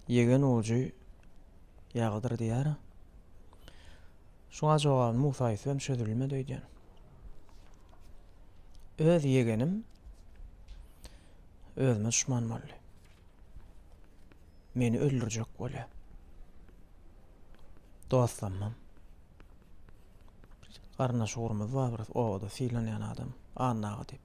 ýegen ujy ýagydyr diýýär. Şuňa jogabyny Musa Ýusufem çözülmedi öýdýän. Öz ýegenim özüme düşman boldy. Meni öldürjek bolýar. Dostlamam. Garyndaş ugrumyz bar bir obada sylanýan adam. Annaga diýip.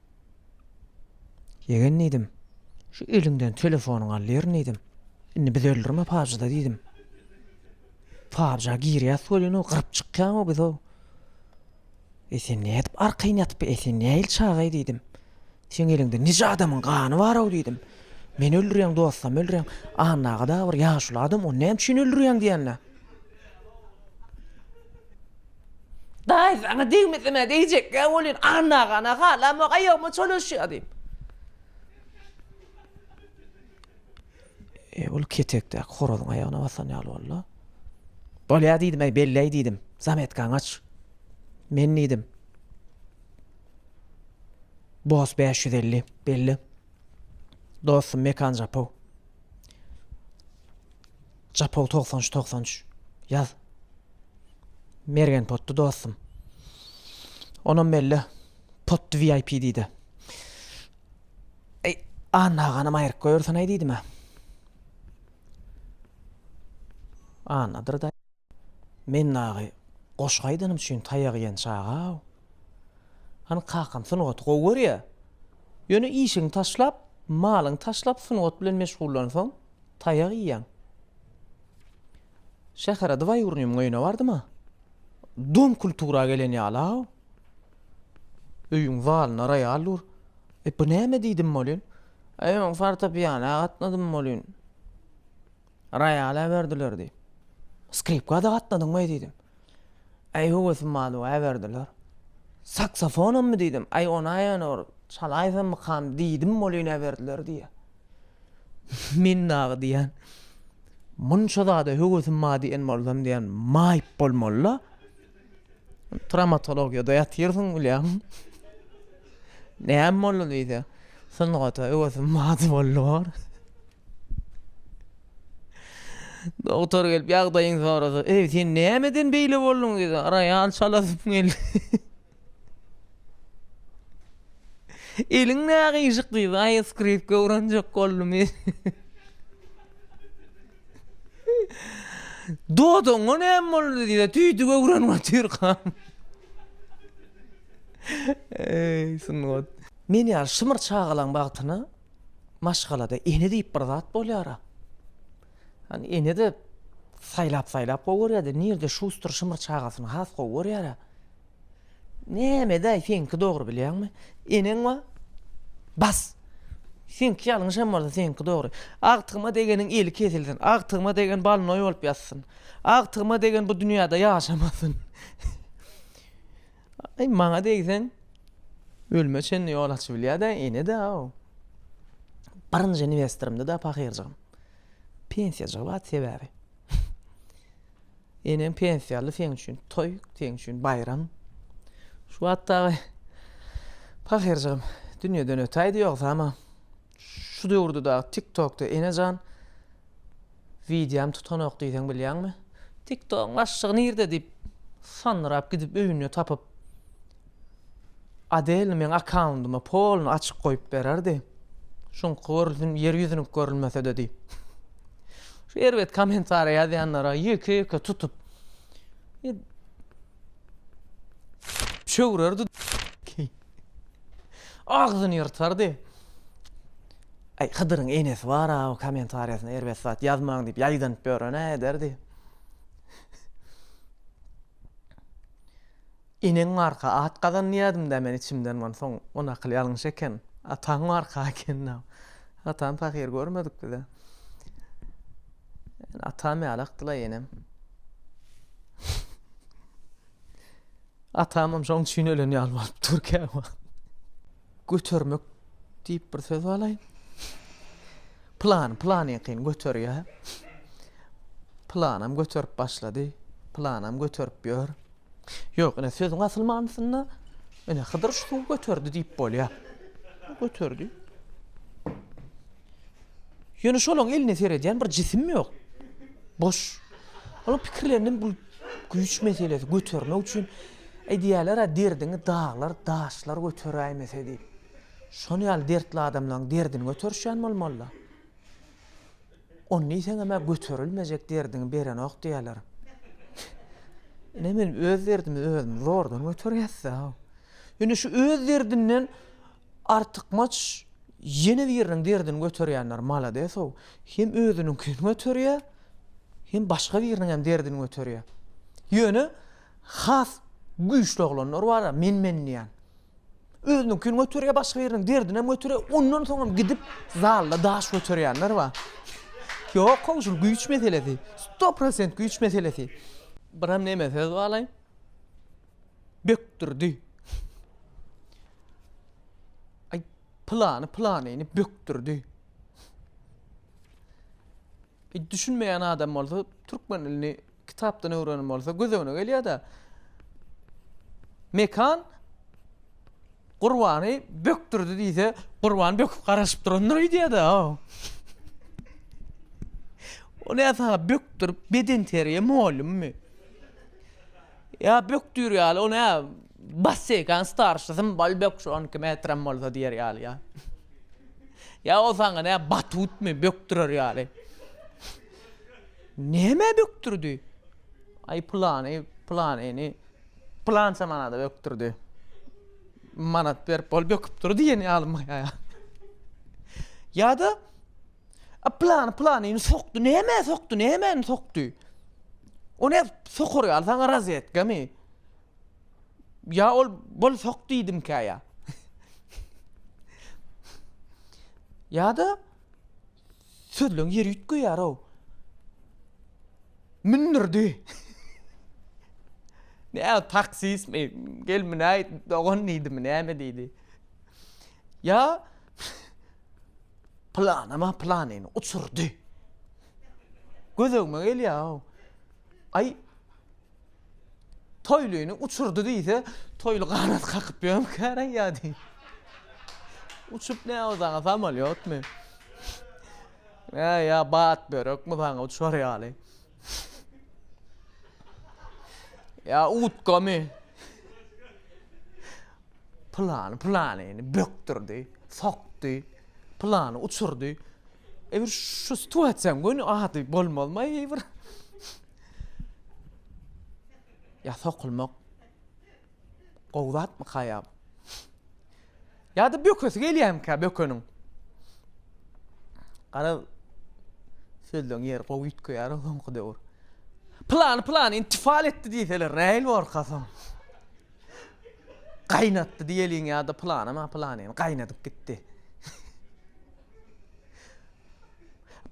Ýegen diýdim. Şu eliňden telefonyňy al ýerin diýdim. Indi biz öldürme pabjyda diýdim. Pabja girýäs welin o gyryp çykýan o biz o. E sen ne edip arkaýyn ýatyp e sen ne il çagaý diýdim. Sen eliňde nije adamyň gany bar o diýdim. Men öldürýän dostam öldürýän. Anna aga da bir ýaşuly adam ony näme üçin öldürýäň diýende. Daýy saňa degmesem-ä degjek-ä welin, Annagana halamok, aýagyma çolaşýar diýip. E, ol ketekdäki horazyň aýagyna basan ýaly boldy. Bolýa diýdim-äý, belläý diýdim. Zametkaňy aç. Men diýdim. Bos 550, belli. Dostum Mekan Japow. Japol togsan üç togsan üç ýaz. Mergen potdy dostum. Onam melle potdy VIP diýdi. Eý, Anna aganam aýryk goýursan aý diýdim ha. Annadyr da. Men dagy goşgy aýdanym üçin taýak ýen çaga. Hany kakam sungaty gowy görýä. Ýöne işiňi taşlap, malyňy taşlap sungat bilen meşgullansaň, taýak iýýäň. Şähere dwaýurnyýmiň öýüne bardym-a. Dom kultura gelen ýaly-aw. Öýüň zalynda roýal dur. E, bu näme diýdim welin. Aý, men fortepianoa gatnadym welin. Roýal äberdiler diýip. Skripka-da gatnadyňmaý diýdim. Äý höwesim badu äberdiler. Saksofonammy diýdim. Äý ona ýöne bir çalaýsammykam diýdim welin äberdiler diýýä. Men dagy diýýän, munça zada höwesim bar diýen bolsam diýýän, maýyp bolmaly-la. Trawmatologiýada ýatyrsyň bilýän. Näme boldy diýse, sungata öwüsim bady boldy bor. Dogtor gelip ýagdaýyňy sorasa, eý sen nämeden beýle bolduň diýse, roýal çalasym geldi. Eliň nägyşyk diýse, aýy skripka öwrenjek boldum. Dodaňa näme boldy diýse, tüýdük öwrenip otyrkam. Eý, sungat. Men ýaly şymyr çagalaň bagtyna maşgalada ene diýip bir zat bolýar-a. Hany ene-de saýlap-saýlap gowy görýär-de, nirede Şuster şymyr çagasyny has gowy görýär-a. Nämedäý seňki dogry bilýäňmi? Eneň we bas. Seňki ýalňyş hem bolsa seňki dogry. Agtygyma degeniň eli kesilsin. Agtygyma degen balnoý bolup ýatsyn. Agtygyma degen bu dünýäde ýaşamasyn. Aý maňa degseň ölüme çenli ýol açyp bilýädä enede aw. Birinji inwestorymdy da pahyrjygym. Pensiýa çykyp at sebäbi. Eneň pensiýaly seň üçin toý, seň üçin baýram. Şu wagt dagy pahyrjygym dünýeden ötäýdi ýogsa ama şu döwürde dagy TikTokda enejan wideom tutanok diýseň bilýäňmi? TikTogyň başlygy nirde diýip sandyrap gidip öýünde tapyp Adel meň akkaundyma polny açyk goýup bererdi. Şuňky görüzin ýer ýüzüniň görülmesede diýip. Şu erbet kommentariýa ýazýanlara ýeke-ýeke tutup çöwrerdi. Agzyny ýyrtardy. Aý, Hydyryň enesi bar-a, o kommentariýasyna erbet zat ýazmaň diýip ýaýdanyp ýören-ä ederdi. Eneň barka at gazan diýýädim-dä men içimden onsoň o nakyl ýalňyş eken. Ataň barka ekeni-ä. Atam pahyr görmedik biz-ä. Ýöne atam ýaly akdyl-aý enem. Atamam şoň üçin ölen ýaly bolup dur käwagt. Götermek diýip bir söz balaý. Plan, plan ýakyn göterýär. Planam göterip başlady. Planam göterip ýör. Ýok, ine sözüň asyl manysynda ine Hydyr şu suwy göterdi diýip bolýar. Göterdi. Ýöne şolaň eline seredýän bir jisim ýok. Boş. Onuň pikirlerinde bu güýç meselesi götermek üçin Aýdýarlar-a, derdiňi daglar, daşlar göteräýmese diýip. Şol ýaly dertli adamlaryň derdini göterişýän bolmaly-da. Ony diýseňem-ä göterilmejek derdiňi berenok diýýärler. Ine, men öz derdimi özüm zordan göterýäs-dä. Ýöne şu öz derdinden artykmaç ýene biriniň derdini göterýänler malades-ow. Hem özüniňkini göterýär, hem başga biriniňem derdini göterýär. Ýöne. Has güýçli oglanlar bar-a, men-men diýýän. Özüniňkini göterýär, başga biriniň derdinem göterýär, ondan soňam gidip zalda daş göterýänler bar. Ýok-ow, şul güýç meselesi. Sto prosent güýç meselesi. Biram neme söz balaý? Bökdürdi. Aý, pylany pylanyny bökdürdi. Düşünmeýän adam bolsa türkmen dilini kitapdan öwrenen bolsa göz öňüne gelýär-de. Mekan Gurbany bökdürdi diýse, Gurban böküp garaşyp durandyr öýdýär-de. O näme saňa bökdürip bedenterbiýe mugallymymy? Ýa bökdüýr ýaly o näme? Basseýkan starşysym Balbek şu on iki metrem bolsa diýer ýaly ýa. Ýa ol saňa nä batutmy bökdürer ýaly. Nämä bökdürdi? Aý pylany pylanyny pylança manada bökdürdi. Manat berip ol böküp dur diýen ýalymy ýa. Ýa-da A pylany pylanyny sokdy, nämä sokdy, nämäni sokdy? O näp sokar ýaly saňa rozetkamy? Ýa ol bol sok diýdimkä ýa. Ýa-da sözleň ýeri üýtgeýär-ow. Mündürdi. Näme taksistmi, gelmünäý dogan diýdimi, näme diýdi. Ýa planyma planyny uçurdy. Gözegime gelýär-ow. Aý, Toýlyny uçurdy diýse, toýly ganat kakyp ýörmükäreý ýa-de. Uçup ne ozana samolýotmy? Ýa ýa bat börekmi saňa uçar ýaly? Ýa utkamy? Pylany pylanyny bökdürdi, sokdy, pylany uçurdy. E bir şu situasiýaň göni ady bolmazmy aýyr? Ya sokulmak gowy zatmyka ya? Ya da bökesi gelýärmikä bökeniň? Garaz sözleň ýeri gowy üýtgeýär soňky döwür. Plany plany intifal etdi diýseler näil borka soň. Gaýnatdy diýeliň ýa-da plany ma plany gaýnadyp gitdi.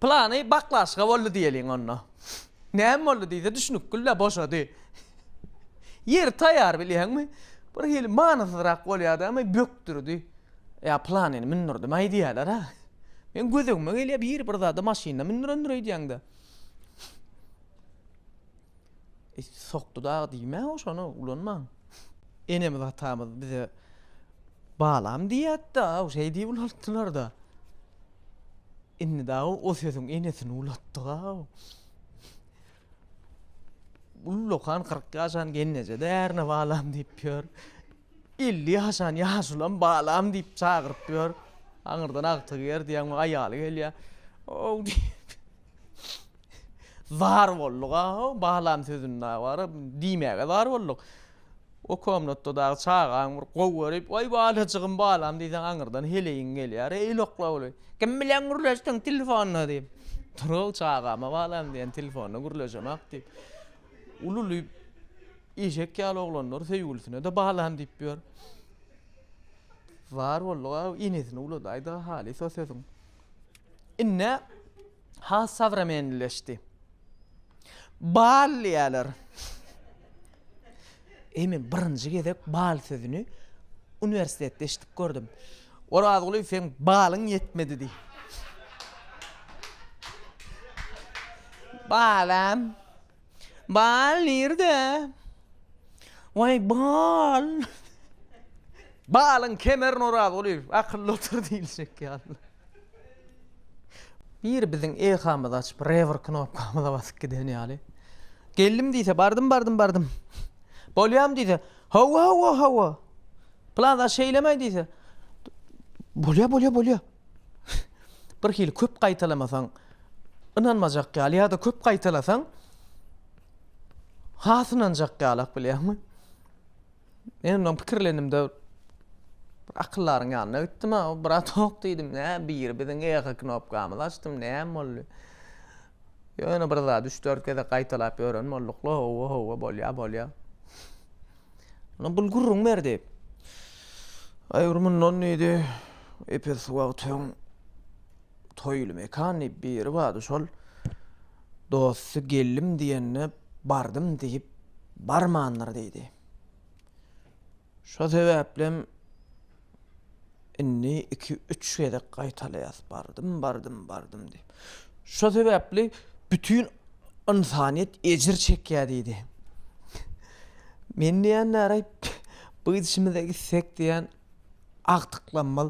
Plany baklaşka boldy diýeliň onda. Näme boldy diýse düşnükgil-dä boşady. Ýeri taýýar bilýäňmi? Bir hili manysyzrak bolýardy ama bökdürdi. Ýa planyny mündürdim-aý diýýärler-ä. Meň gözegime gelýär biri bir zady maşynda mündürendir öýdýäňdä. Sokdy dagy diýme-ä şony ulanmaň. Enemiz atamyz bize balam diýýärdi-de, aw şeý diýip ulaltdylar-da. Indi dagy o sözüň enesini ulatdyg-aw. Ullakan kyrk ýaşan gelneje-de ärine balam diýip ýör. Elli ýaşan ýaşulam balam diýip çagyryp ýör. Aňyrdan agtygy ýer diýýäňmi, aýaly gelýär. Ow diýip. Zar boldug-aw, balam sözüni dagy bar-a, diýmäge zar bolduk. O komnatda dagy çagaň bir gowy görip, Waý balajygym balam diýseň aňyrdan heleýiň gelýär, Eý loklawly, kim bilen gürleşdiň telefonda diýip. Durag çagama balam diýen telefonda gürleşemak diýip. Ululyp eşek ýaly oglanlar söýgülisine-de balam diýip ýör. Bar boldy-a enesini uladaýda halysa sözüň. Indi. has sowremenlileşdi. Bal diýýärler. Eý, men birinji gezek bal sözüni uniwersitetde eşidip gördüm. Orazguly, seň balyň ýetmedi diý. Balam. Bal nirde? Waý bal. Balyň kemerin Oraz guly akylly otur diýiljek ýaly. Biri biziň eýkamyzy açyp rewer knopkamyza basyp giden ýaly. Geldim diýse bardym bardym bardym. Bolýam diýse hawa hawa hawa. Plan aşeýlemäý diýse bolýa bolýa bolýa. bir hili köp gaýtalamasaň ynanmajak ýaly ýa-da köp gaýtalasaň has ynanjak ýalak bilýäňmi? Men ondan pikirlenimde bir akyldaryň ýanyna gitdim, ha, brat ýok diýdim, nä biri biziň eýe knopkamyzy açdym, näme boldy? Ýöne bir zady üç-dört gezek gaýtalap ýören bolduk. Howwa, howwa, bolýar, bolýar. Ynha bul gürrüň berdi. Aýur mundan diýdi, epes wagt öň toýly mekan diýip biri bardy, şol dosty geldim diýende bardym diýip barmandyr diýdi. Şo sebäplem indi iki-üç gezek gaýtalaýas, bardym, bardym, bardym diýip. Şo sebäpli bütin ynsanyýet ejir çekýär diýdi. Men diýýän näre bu gidişimize gitsek diýýän agtyklanmaz.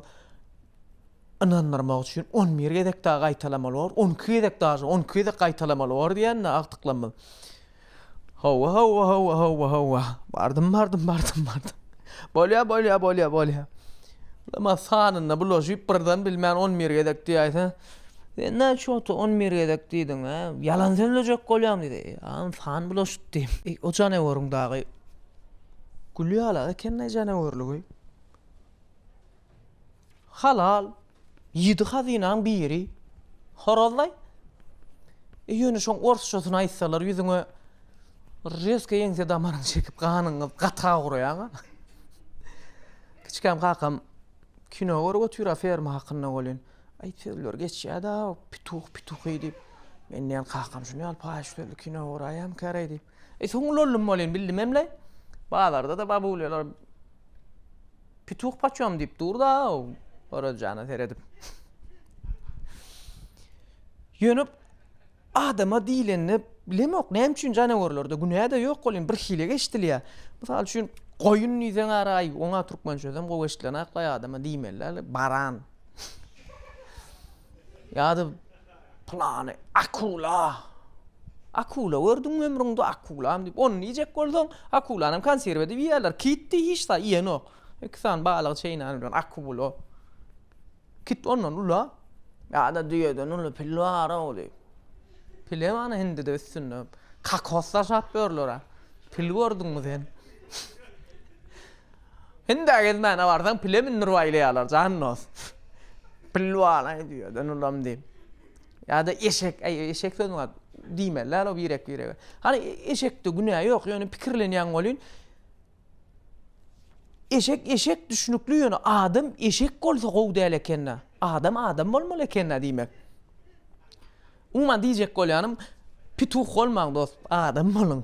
Ynandyrmak üçin on bir gezek dagy gaýtalamaly bor, on iki gezek dagy, on iki gezek gaýtalamaly bor diýende agtyklanmaz. Howwa, howwa, howwa, howwa, howwa. Bardym, bardym, bardym, bardym. Bolýa, bolýa, bolýa, bolýa. Namaz sanynda bulaşyp birden bilmän on bir gezek diýäýse, sen näçe wagtda on bir gezek diýdiň, hä? Ýalan sözlejek bolýaň diýdi. Ýa, san bulaşypdy. Eý, o janaweriň dagy gülýäl-ä, ekendeý janaweriňi. Halal, ýedi hazynaň biri. Horazlaý. E, ýöne şoň orsçasyny aýtsalar, ýüzüňe rezko ýeňse damaryňy çekip, ganyňy gata guraýaň-a. Kiçikäm kakam kino görüp otyr, a ferma hakynda welin, aý, sözler geçýär-dä, pituh, pituhy diýip. Men diýen, kakam şuny ýaly paýyş sözli kino göräýýämi käreý diýip. E, soň ulaldim welin, bildim hem-le. Bazarda-da babulýalar Pituh paçam diýip dur-da, Orazjana seredip. Ýöne adama diýlende bilemok, näme üçin janawerlerde günä-de ýok ol, indi birhili eşidilýär. Mysal üçin, goýun diýseň araý, oňa türkmen sözem gowy eşidilenok, baý adama diýmeli däl, baran. Ýa-da Pylany akula. Akula gördüňmi ömrüňde akulam diýip, ony iýjek bolsaň, akulanam konserw edip iýýärler. Kitdi hiç zat iýenok. Iki sany balygy çeýnän bilen akula. Kit ondan ula. Ýa-da düýeden uly pil bar-ow diýip. Pilem ana hindide üstünde kokos daşap ýörler-ä. Pil gördüňmi sen? Hindä gezmäne barsaň pile mündürip aýlaýarlar jan dost. Pilwanaý düýeden ulam diýip. Ýa-da eşek, äý eşek sözüň at, diýmeli däl o birek-birege. Hany eşekde günä ýok, ýöne pikirlenýän welin, eşek eşek düşnükli, ýöne adam eşek bolsa gowy däl eken-dä. Adam adam bolmaly eken-dä diýmek. Umuman diýjek bolýanym, pituh bolmaň dost, adam boluň.